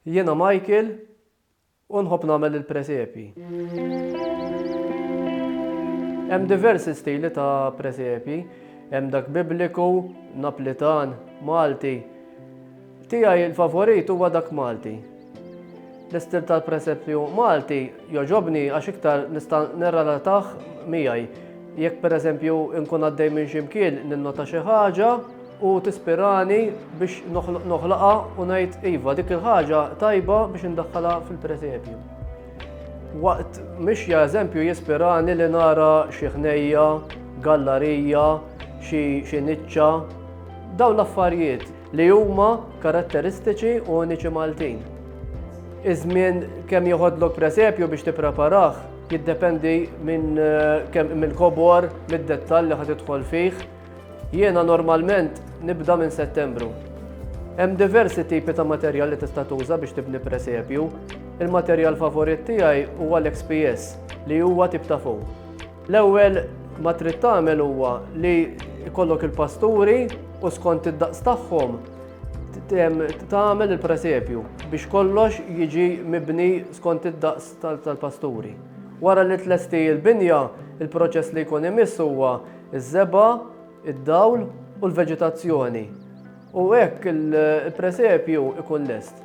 Jiena Michael u nħobb nagħmel il-presepji. Hemm diversi stili ta' presepji. Hemm dak Bibliku, Naplitan, Malti. Tiegħi il-favorit huwa dak Malti. L-istil tal-presepju Malti jogħġobni għax iktar nista' nirrelatah miegħi. Jekk pereżempju nkun għaddej minn xi mkien ninnota xi ħaġa, u tispirani biex noħlaqha u ngħid iva dik il-ħaġa tajba biex indaħħalha fil-presepju. Waqt mixja eżempju jispirani li nara xi ħnejja, gallarija, xi niċċa, dawn l-affarijiet li huma karatteristiċi u uniċi Maltin. Iż-żmien kemm joħodlok presepju biex tippreparah jiddependi minn eh, kemm mill-kobor, mid-dettall li ħad idħol fih, Jiena normalment nibda minn Settembru. Hemm diversi tipi ta' materjal li tista' tuża biex tibni presepju. Il-materjal favorit tiegħi huwa l-XPS li huwa tip ta' fuq. L-ewwel ma trid tagħmel huwa li jkollok il-pasturi u skont id-daqs tagħhom tagħmel il-presepju biex kollox jiġi mibni skont id-daqs tal-pasturi. Wara li tlesti l-binja, il-proċess li jkun imiss huwa Iż-żebgħa, id-dawl u l-veġetazzjoni, u hekk il-presepju ikun lest.